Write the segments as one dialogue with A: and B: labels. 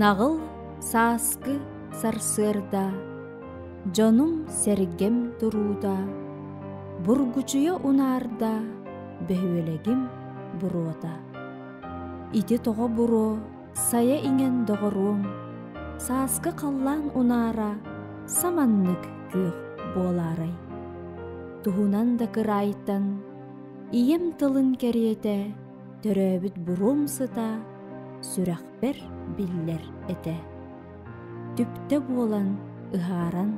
A: Наҕыл сааскы сарсыарда дьонум сэргэм турууда бургучуйа унаарда бөһүөлэгим буруота ити тоҕо буруо Сайа иҥэн доҕоруом, сааскы халлаан унаара саманнык күөх буолаарай. Туһунан да кыраайтан ийэм тылын кэриэтэ төрөөбүт буруум сыта сүрэхпэр биллэр этэ. түптэ буолан ыһааран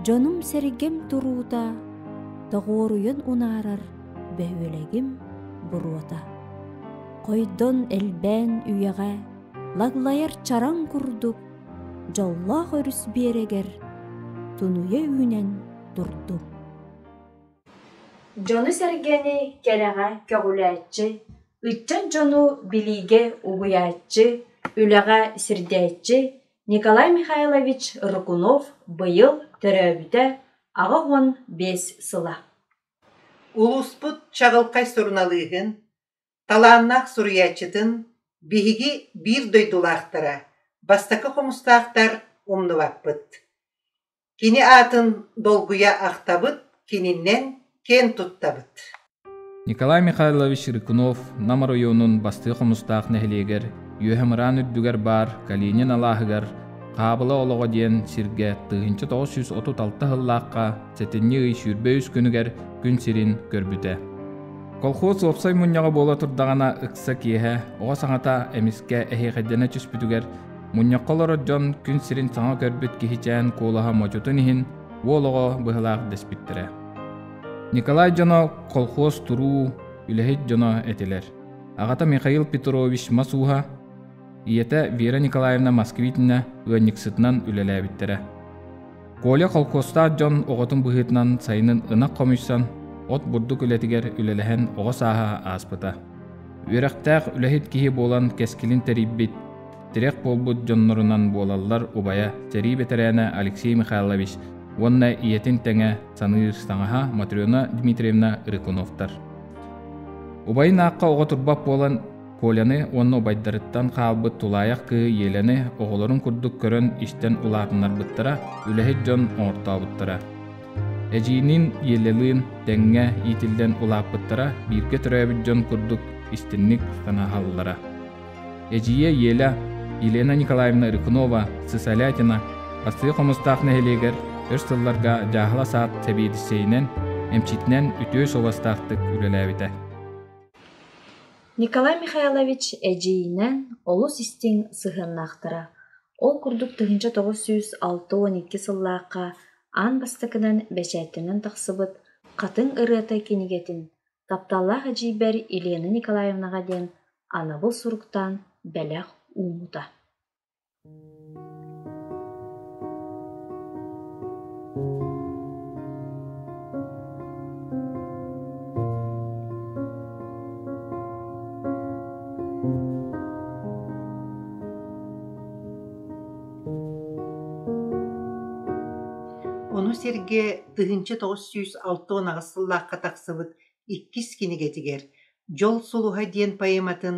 A: дьонум-сэргэм туруута тоҕуоруйан унаарар бөһүөлэгим буруота хойдон элбээн үйэҕэ лаглайар чараҥ курдук дьоллоох өрүс биэрэгэр тунуйа үүнэн турдум дьону-сэргэни кэрэҕэ көҕүлээччи Ыччат дьону билиигэ угуйааччы, үлэҕэ сирдээччи Николай Михайлович Рыкунов быйыл төрөөбүтэ аҕыс уон биэс сыла.
B: Улууспут чаҕылхай суруналыыһын, талааннаах суруйааччытын биһиги биир дойдулаахтара, бастакы хомустаахтар умнубаппыт Кини аатын долгуйа ахтабыт, кининэн киэн туттабыт Николай
C: Михайлович Рыкунов Нам оройуонун бастыа хомустаах нэһилиэгэр Үөһэмыраан үрдүгэр баар Калинин алааһыгар Хаабыла олоҕо диэн сиргэ тыһыынча тоҕус сүүс отут алта сыллаахха сэтинньи ый сүүрбэ үс күнүгэр күн сирин көрбүтэ. Колхоз уопсай мунньаҕа буола турдаҕына ыкса киэһэ оҕо саҥата эмискэ эһиэхэддэнэ түспүтүгэр Мунньахха олорор дьон күн сирин саҥа көрбүт киһичээн куолаһа модьутун иһин уол оҕо быһылаах дэспиттэрэ. Николай дьоно колхоз туруу, үлэһит дьоно этилэр. Аҕата Михаил Петрович Масуха, ийэтэ Вера Николаевна Москвитина ыанньыксытынан үлэлээбиттэрэ. Коля холкуостаах дьон оҕотун быһыытынан сайынын ынах хомуйсан, от бурдук үлэтигэр үлэлэһэн оҕо сааһа ааспыта. Үөрэхтээх үлэһит киһи буолан кэскилин тэрийбит, тирэх буолбут дьоннорунан буолаллар убайа, сэрии бэтэрээнэ Алексей Михайлович уонна ийэтин тэҥэ саныыр саҥаһа Матрена Дмитриевна Рыкуновтар. Убайын аахха оҕо турбат буолан Коляны уонна убайдарыттан хаалбыт тулаайах кыыһы Елены оҕолорун курдук көрөн истэн улаатыннарбыттара, үлэһит дьон оҥортообуттара. Эдьиийниин Елелыын тэҥҥэ иитиллэн улааппыттара бииргэ төрөөбүт дьон курдук истинник санаһаллара. Эдьиийэ Еля Елена Николаевна Рыкунова Сысолятина Астыы Хомустаах нэһилиэгэр өр сылларга дьааһыла саат сэбиэдиссэйинэн, эмчитинэн үтүө суобастаахтык үлэлээбитэ.
A: Николай Михайлович эдьиийинээн олус истиҥ сыһыаннаахтара. Ол курдук тыһыынча тоҕус сүүс алта уон икки сыллаахха аан бастакынан бэчээттэнэн тахсыбыт Хатыҥ ырыата кинигэтин тапталлаах эдьиийбэр Елена Николаевнаҕа диэн анабыл суруктаан бэлэх уумута
B: Ону сэргэ тыһыынча тоҕус сүүс алта уон аҕыс сыллаахха тахсыбыт иккис кинигэтигэр «Дьол сулуһа» диэн поэматын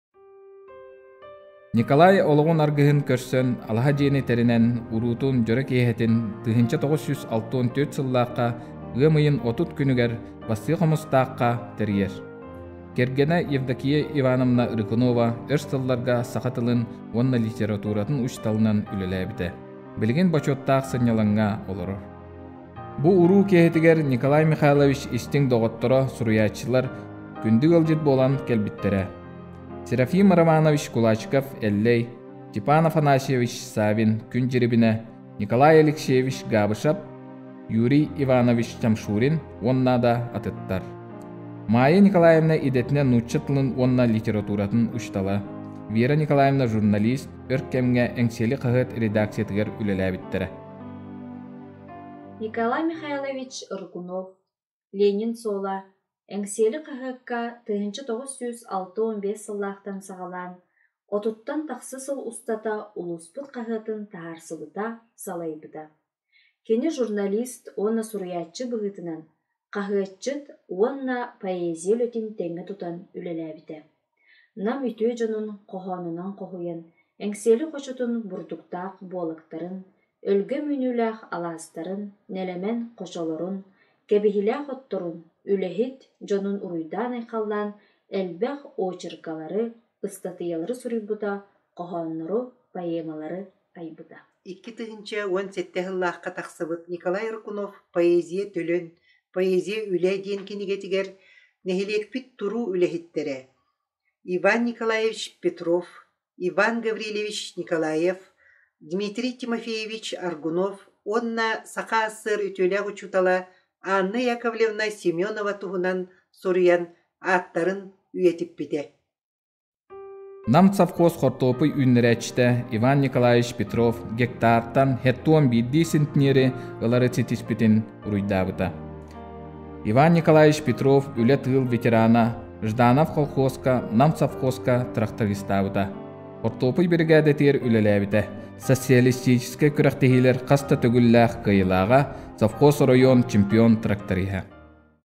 C: Николай олоҕун аргыһын көрсөн, алаһа дьиэни тэринэн, уруутун, дьоро киэһэтин тыһыынча тоҕус жүз алтыан түөрт сыллаахха, ыам ыйын отут күнүгэр Бастыа Хомустаахха тэрийэр. Кэргэнэ Евдокия Ивановна Рыкунова өр сылларга саха тылын уонна литературатын учууталынан үлэлээбитэ. Билигин бочуоттаах сынньалаҥҥа олорор. Бу уруу киэһэтигэр Николай Михайлович истиҥ доҕотторо, суруйааччылар күндү ыалдьыт буолан кэлбиттэрэ. Серафим Романович Кулачков Эллэй, Степан Афанасьевич Савин Күн Дьирибинэ, Николай Алексеевич Габышев, Юрий Иванович Тамшурин уонна да атыттар. Майя Николаевна идэтинэ нуучча тылын уонна литературатын учтала, Вера Николаевна журналист өр кэмҥэ Эҥсиэли хаһыат редакциятыгар үлэлээбиттэрэ.
A: Николай Михайлович Рыкунов, Ленин суола, Эҥсиэли хаһыакка тыһыынча тоҕус сүүс алта уон биэс сыллаахтан саҕалаан отуттан тахса сыл устата улууспут хаһыатын таһаарсыбыта, салайбыта. Кини журналист уонна суруйааччы быһыытынан хаһыатчыт уонна поэзия үлэтин тэҥҥэ тутан үлэлээбитэ. Нам үтүө дьонун хоһоонунан хоһуйан, эҥсиэли хочотун бурдуктаах буолактарын, өлгөм үүнүүлээх алаастарын, нэлэмэн хочолорун, кэбиһилээх отторун, үлэһит дьонун уруйдаан-айхаллаан элбэх очеркалары, ыстатыйалары суруйбута, хоһооннору, поэмалары айбыта Икки тыһыынча уон сэттэ сыллаахха
B: тахсыбыт Николай Рыкунов «Поэзия төлөн», «Поэзия үлэ» диэн кинигэтигэр нэһилиэкпит туруу үлэһиттэрэ Иван Николаевич Петров, Иван Гаврильевич Николаев, Дмитрий Тимофеевич Аргунов уонна Саха СССР үтүөлээх учуутала Анна Яковлевна Семенова туһунан суруйан ааттарын үйэтиппитэ.
C: Нам совхоз хортуопуй үүннэрээччитэ Иван Николаевич Петров гектартан хеттон биирдии центнери ылары ситиспитин уруйдаабыта. Иван Николаевич Петров үлэ тыыл ветерана Жданов колхозка, Нам совхозка трактористаабыта. Хортуопуй биригээдэтигэр үлэлээбитэ. Социалистическай күрэхтэһиилэр хаста төгүллээх кыайылааҕа, совхоз оройуон чемпион тракториһа.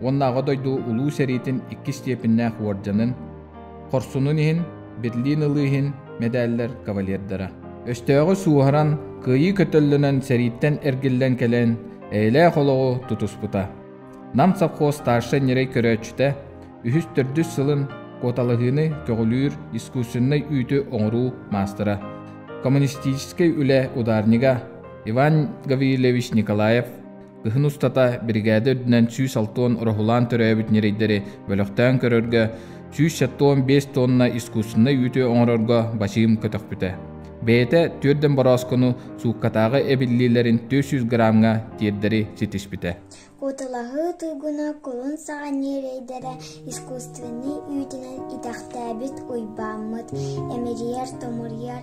C: уонна Аҕа дойду Улуу сэриитин иккис степеннээх уордьанын, хорсунун иһин Берлин ылыы иһин мэдээллэр кавалердара. Өстөөҕү сууһаран, кыайыы көтөллөнөн сэрииттэн эргиллэн кэлэн, эйэлээх олоҕу тутуспута. Нам совхоз старшай ньирэй көрөөччүтэ үһүс төрдүс сылын куоталаһыыны көҕүлүүр искусственнай үүтү оҥоруу маастара, коммунистическай үлэ ударнига Иван Гаврилевич Николаев Кыһын устата биригээдэ үрдүнэн сүүс алтыан ороһулаан төрөөбүт ньирэйдэри бөлөхтөөн көрөргө, сүүс сэтуон биэс туонна искусственнай үүтү оҥорорго бачыым көтөхпүтэ. Бэйэтэ түөрдэн борооскону сууккатааҕы эбиллиилэрин төрт сүүс граммҥа тиэрдэри ситиспитэ. Куталаһыы
D: туйгуна кулун саҕа ньирэйдэрэ искусственнай үүтүнэн итэхтээбит Уйбааммыт, эмирийэр-томуруйар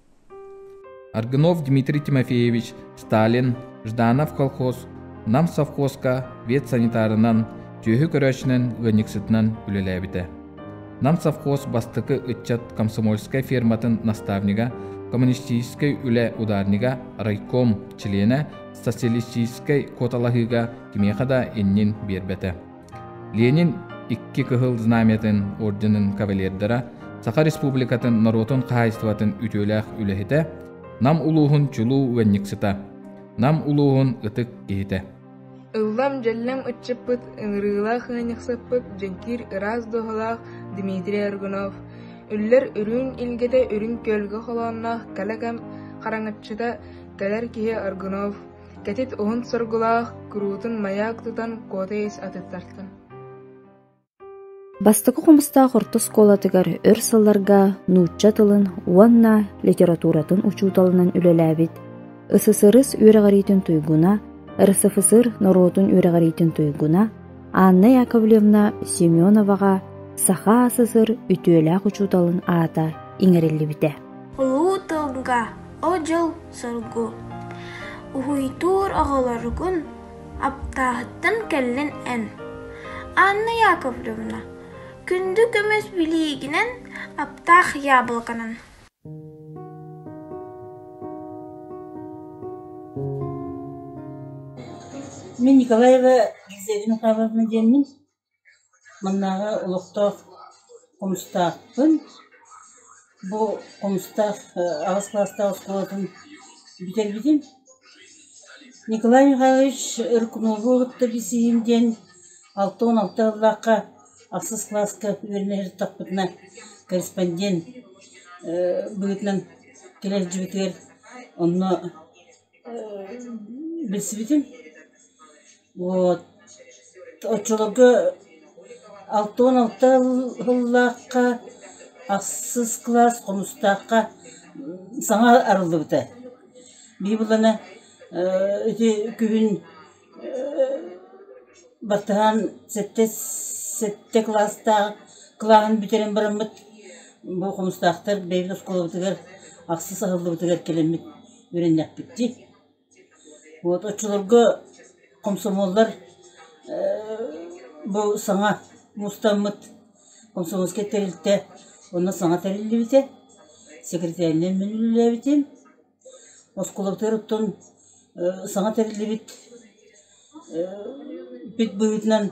C: Аргунов Дмитрий Тимофеевич Сталин, Жданов колхоз, Нам совхозка ветсанитарынан, түөһү көрөөччүнэн ыанньыксытынан үлэлээбитэ. Нам совхоз бастакы ыччат комсомольскай ферматын наставнига, коммунистическай үлэ ударнига, райком члена, социалистическай куоталаһыыга кимиэхэ да иннин биэрбэтэ. Ленин икки кыһыл знамятын орденын кавалердара, Саха Республикатын норуотун хаһаайыстыбатын үтүөлээх үлэһитэ, Нам улууһун чулуу уенниксыта, Нам улууһун ытык киһитэ. Ыллам-дьэллэм
E: ыччаппыт, ыҥырыылаах ыанньыксаппыт дьэҥкиир ыраас духолаах Дмитрий Аргунов, үллэр үрүн илгэтэ үрүн күөлгэ холоонноох калакам хараҥаччыта кэлэр киһи Аргунов, кэтит уһун соргулаах, куруутун маяк тутан куотайыс атыттартым
A: Бастакы хомустаах орто оскуолатыгар өр сылларга нуучча тылын уонна литературатын учууталынан үлэлээбит, СССР үөрэҕириитин туйгуна, РСФСР норуотун үөрэҕириитин туйгуна Анна Яковлевна Семеноваҕа Саха СССР үтүөлээх учууталын аата иҥэриллибитэ. Улуу
D: тылга, о дьыл соргу уһуйдуур оҕолоругун аптааһыттан кэллин эн анна яковлевна күндү көмүс билиигинэн аптаах яблоканан
F: мен николаева гизелина павловна диэммин Маннааҕы олохтоох хомустаахпын. Бу хомустаах аҕыс кылаастаах оскуолатын бүтэрбитим. Николай Михайлович рок-н-роллу кытта билсиһиим диэн алта уон алта сыллаахха ахсыс кылааска үөрэнэ сырыттахпытына корреспондент быһыытынан кэлэ илдьибитигэр онно билсибитим. Вот оччолорго алта уон алта сыллаахха ахсыс кылаас хомустаахха саҥа арыллыбыта. Быйыллана ити күһүн баттаһан сэттэ сэттэ кылаастаах кылааһын бүтэрэн бараммыт бу хомустаахтар бэйэбит оскуолабытыгар ахсыс аһыллыбытыгар кэлэммит үөрэннэхпит дии. Вот оччолорго комсомоллар бу саҥа мустаммыт комсомольскай тэрилтэ онно саҥа тэриллибитэ сэкирэтээринэн мин үлэлээбитим оскуолабытыгар оттон саҥа тэриллибит пит быһыытынан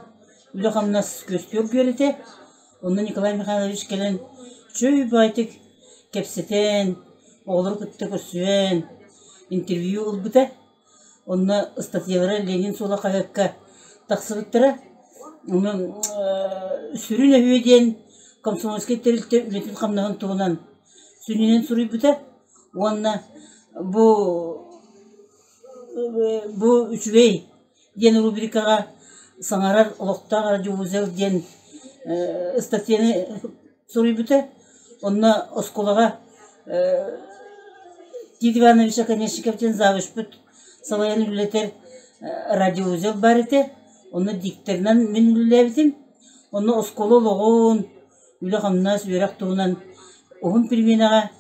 F: үлэ-хамнас күөскэ үргүөр этэ Онно Николай Михайлович кэлэн «Чэй убаайтык» кэпсэтэн, оҕолору кытта көрсүһэн, интервью ылбыта. Онно ыстатыйалара Ленин суола хаһыакка тахсыбыттара. Онон сүрүн өһүө диэн комсомольскай тэрилтэ үлэтин-хамнаһын туһунан сүнньүнэн суруйбута уонна бу бу үчүгэй диэн рубрикаҕа саҥарар олохтоох радиовузел диэн ыстатыйаны суруйбута. Онно оскуолаҕа Тит Иванович Оконешников диэн завучпут салайан үлэлэтэр радиовузел баар этэ. Онно дикторынан мин үлэлээбитим. Онно оскуола олоҕун, үлэ-хамнас, үөрэх туһунан уһун переменаҕа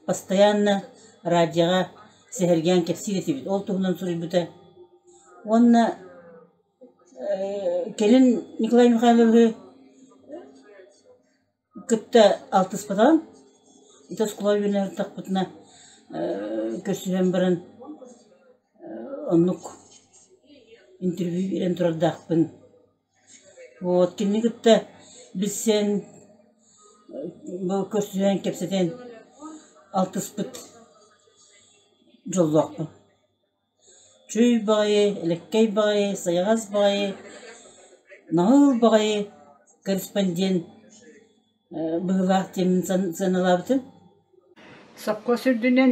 F: постоянно радиоҕа сэһэргээн кэпсиир этибит. Ол туһунан суруйбута. Уонна кэлин Николай Михайловиһы кытта алтыспатаҕым. Ити оскуола үбүнэн ырдахпытына көрсүһэн баран оннук интервью биэрэн турардаахпын Вот кини кытта билсэн бу көрсүһэн кэпсэтэн алтыспыт дьоллоохпун. Чүй баҕайы, элэккэй баҕайы, сайаҕас баҕайы, наһыл баҕайы корреспондент быһыылаах диэн сыаналаабытым.
G: Сопхуос үрдүнэн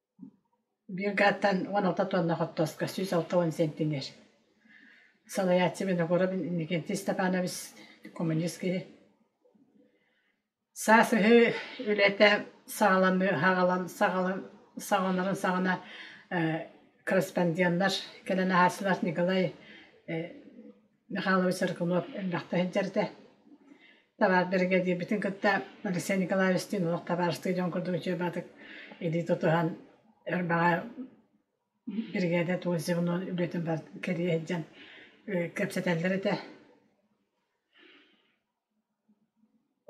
G: Биир гааттан уон алта туонна хортуоска сүүс алта уон сиэнтимиэр. Салайааччы Виногоровин Иннокентий Степанович, коммунист киһи. Саас ыһыы үлэтэ саҕаламыы саҕалан саҕалан саҕаланарын саҕана корреспонденнар кэлэн аһааччылар Николай э Михайлович Саркунов элбэхтэ сылдьарда. Табаар биригэдиирбитин кытта Алексей Николаевичтыын олох табаарыстыы дьон курдук учуйбатык илии тутуһан өр баҕа биригээдэ тугу звеноун үлэтин бар кэрийэ сылдьан кэпсэтэллэр этэ.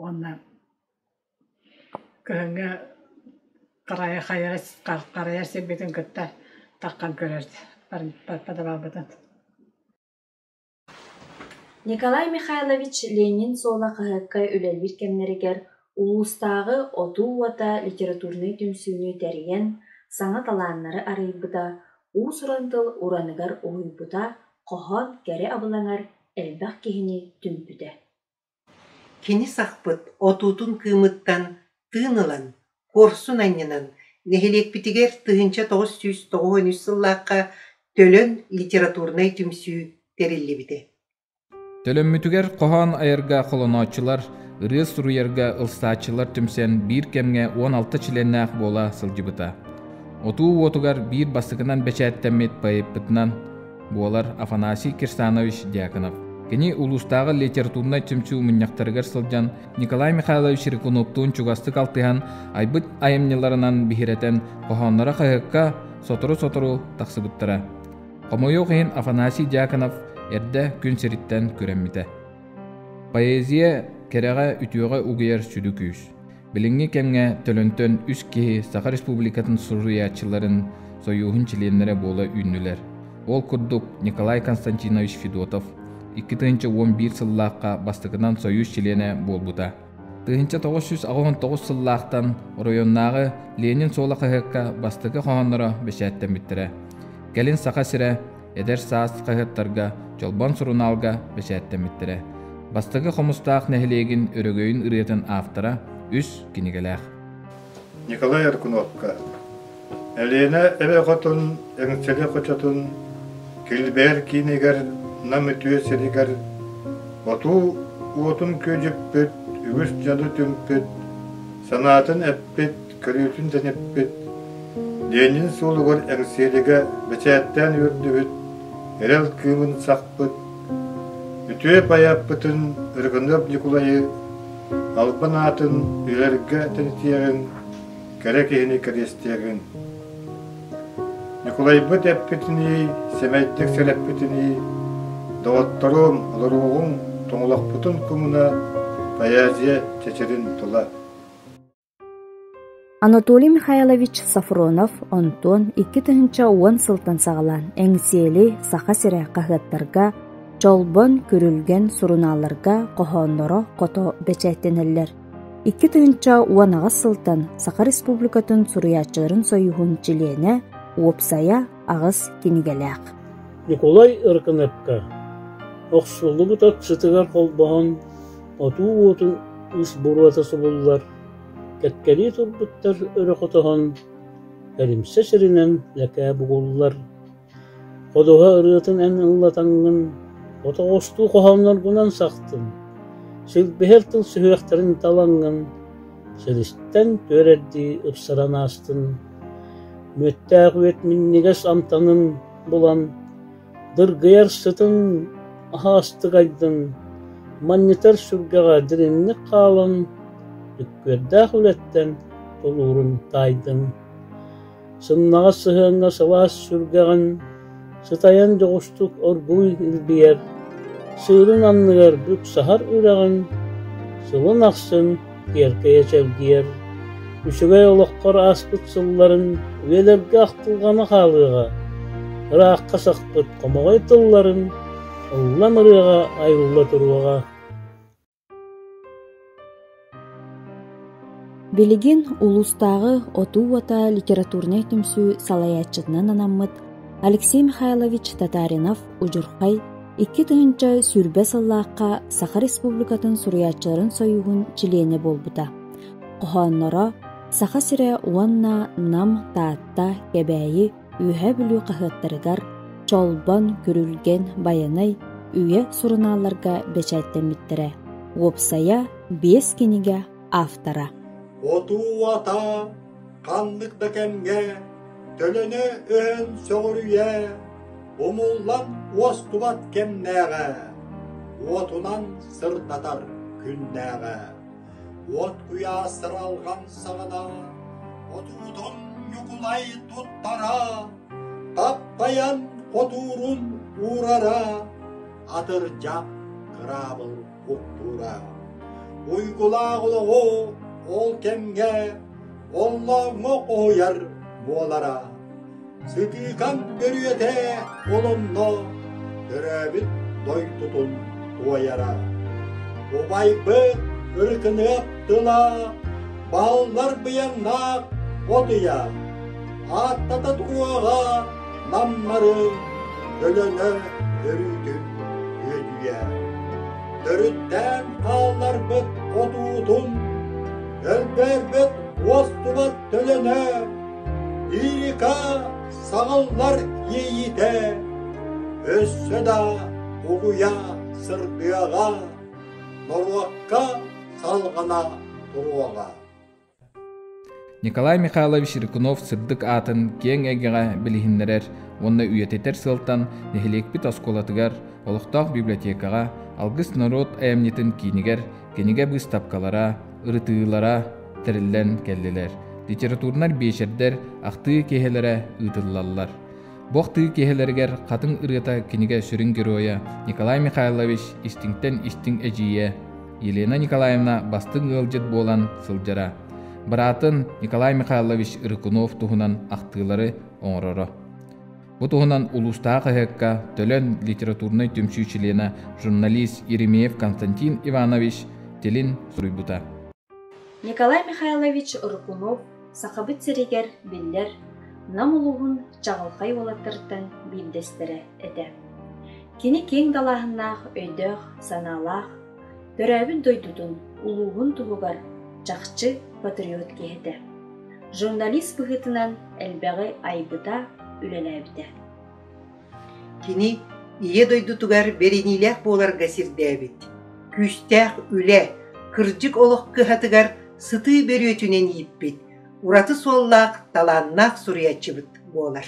G: Уонна кыһыҥҥы харайа хайара харайар сирбитин кытта таххан көрөр подобалбытын
A: Николай Михайлович Ленин суола хаһыакка үлэлиир кэмнэригэр улуустааҕы Отуу уота литературнай түмсүүнү тэрийэн, саҥа талааннары арыйбыта, уус-уран тыл ураныгар уһуйбута, хоһоон кэрэ абылаҥар элбэх киһини түмпүтэ.
B: Кини сахпыт отуутун кыымыттан тыын ылан, куорсун анньынан, нэһилиэкпитигэр тыһыынча тоҕус сүүс тоҕус үн үс сыллаахха Төлөн литературнай түмсүү тэриллибитэ Төлөммүтүгэр
C: хоһоон айарга холонооччулар, ырыа суруйарга ылсааччылар түмсэн биир кэмҥэ уон алта чилиэннээх буола сылдьыбыта. Отуу уотугар биир бастакынан бэчээттэммит поэппытынан буолар Афанасий Кирсанович Дьяконов. Кини улуустааҕы литературнай түмсүү мунньахтарыгар сылдьан Николай Михайлович Рыкуновтуун чугастык алтыһан, айбыт айымньыларынан биһирэтэн, хоһоонноро хаһыакка сотору-сотору тахсыбыттара. Хомойуох иһин Афанасий Дьяконов эрдэ күн сириттэн күрэммитэ. Поэзия кэрэҕэ үтүөҕэ угуйар сүдү күүс. Билиҥҥи кэмҥэ Төлөнтөн үс киһи Саха Республикатын суруйааччыларын сойууһун чилиэннэрэ буола үүннүлэр. Ол курдук Николай Константинович Федотов икки тыһыынча уон биир сыллаахха бастакынан сойуус чилиэнэ буолбута. Тыһыынча тоҕус жүз аҕыһын тоҕус сыллаахтан оройуоннааҕы Ленин суола хаһыакка бастакы хоһоонноро бэчээттэммиттэрэ. Кэлин Саха сирэ эдэр саас хаһыаттарга, Чолбон сурунаалга бэчээттэммиттэрэ. Бастакы Хомустаах нэһилиэгин өрөгөйүн ырыатын автора үс кинигэлээх. Николай
H: Аркуновка Элена эбэ хотун эҥсэлэ хочотун Килбээр киинигэр Нам үтүө сиригэр Отуу уотун күөдьүппүт үгүс дьану түмпүт санаатын эппит көрүүтүн дэниппит, Ленин суолугар эҥсиэлигэ бэчээттээн үөрдүбүт, эрэл кыымын сахпыт, үтүө байаппытын Рыгынов Ньукулайы албан аатын билэргэ тэнитиэҕин, кэрэ киһини кэриэстиэҕин. Ньукулайбыт эппитинии, сэмэйдик сэрэппитинии, доҕотторуҥ, олоруоҕуҥ, тоҥолохпутун кумуна, поэзия чэчирин тула.
A: Анатолий Михайлович Софронов онтон икки тыһыынча уон сылтан саҕалаан Эҥсиэли Саха сирэ хаһыаттарга, Чолбон, Күрүлгэн сурунаалларга хоһоонноро хото бэчээттэнэллэр. Икки тыһыынча уон аҕыс сылтан Саха Республикатын суруйааччыларын сойууһун чилиэнэ, уопсайа аҕыс кинигэлээх Ньукулай
I: Ыркыныпка охсуллубут от сытыгар холбоһон отуу уотун ыс буруота субуллар кэккэлии турбуттар өрө хотоһон эримсэ сиринэн лэкээ бугуллар ходуһа ырыатын эн ыллатаҥҥын ото оҕустуу хоһоонноргунан сахтын силбиһэр тыл сүһүөхтэрин талаҥҥын Силистэн түөрэрдии ыпсаран аастын, мүөттээх үөт минньигэс амтанын булан, дыргыйар сытын аһаастыгайдын, манньытар сүргэҕэ дириҥник хаалан, үккүөрдээх үлэттэн тулуурун таайдын. сымнаҕас сыһыаҥҥа сылаас сүргэҕин сытайан дьоҕустук оргууй илгийэр, сыырын анныгар бүк саһар үрэҕин сылын ахсын киэркэйэ чэлгийэр, үчүгэй олоххор ааспыт сылларын үйэлэргэ ахтылҕана хаалыаҕа, ыраахха сахпыт хомоҕой тылларын ыллан ырыаҕа айылла туруоҕа.
A: Билигин улуустааҕы Отуу уота литературнай түмсүү салайааччытынан анаммыт Алексей Михайлович Татаринов удьурхай икки тыһыынча сүүрбэ сыллаахха Саха Республикатын суруйааччыларын сойууһун чилиэнэ буолбута. Хоһоонноро Саха сирэ уонна Нам, Таатта, Кэбээйи Үөһээ Бүлүү хаһыаттарыгар Чолбон, Күрүлгэн, Байанай үйэ сурунаалларга бэчээттэммиттэрэ. Уопсайа биэс кинигэ автора Отуу-атаа
J: ханнык да кэмҥэ төлөнө өһөн сөҕүрүйэ умуллан уостубат кэмнээҕэ, уотунан сырдатар күннээҕэ. От куйаас сыралҕан саҕана, отуутун ньукулай туттара, таппайан хотуурун уурара, атырдьах кыраабыл уктуура. Уйгулаах олоҕу ол кэмҥэ Оллооҥҥо хоһуйар буолара. Сытыыкам төрүөтэ олонно, төрөөбүт дойдутун туойара. Убайбыт ыркыныах тыла, бааллар быйаҥнаах от ыйа, ааттата туруоҕа намнарыҥ өлөҥө өрүүтүн үөдүйэ төрүттээн хаалларбыт хотуутун өлбөрбүт уостубат төлөнө лирика саҕыллар иэйиитэ өссө да угуйа сырдыаҕа норуокка салҕана туруоҕа
C: Николай Михайлович Рыкунов сырдык аатын киэҥ эйгэҕэ билиһиннэрэр уонна үйэтитэр сыалтан нэһилиэкпит оскуолатыгар, олохтоох библиотекаҕа, Алгыс норуот айымньытын киинигэр кинигэ быыстапкалара, ырытыылара тэриллэн кэллилэр. Литературнай биэчэрдэр ахтыы киэһэлэрэ ыытыллаллар. Бох тыы киһилэригэр хатыҥ ырыата кинигэ сүрүн геройа Николай Михайлович истиҥтэн истиҥ эдьиийэ Елена Николаевна бастыҥ ыалдьыт буолан сылдьара. Быраатын Николай Михайлович Рыкунов туһунан ахтыылары оҥороро. Бу туһунан улуустаах хаһыакка төлөн литературнай түмсүү чилиэнэ журналист Еремеев Константин Иванович тилин суруйбута. Николай
A: Михайлович Рыкунов Сахабыт сиригэр, биллэр, Нам улууһун чаҕылхай уолаттарыттан биирдэстэрэ этэ. Кини киэҥ далааһыннаах өйдөөх, санаалаах, төрөөбүт дойдутун, улууһун туһугар чахчы патриот киһи этэ. Журналист быһыытынан элбэҕи айбыта, үлэлээбитэ.
B: Кини Ийэ дойдутугар бэриниилээх буоларга сирдээбит, күүстээх үлэ, кырдьык олох кыһатыгар сытыы бөрүөтүнэн ииппит, ураты суоллаах, талааннаах суруйааччыбыт буолар.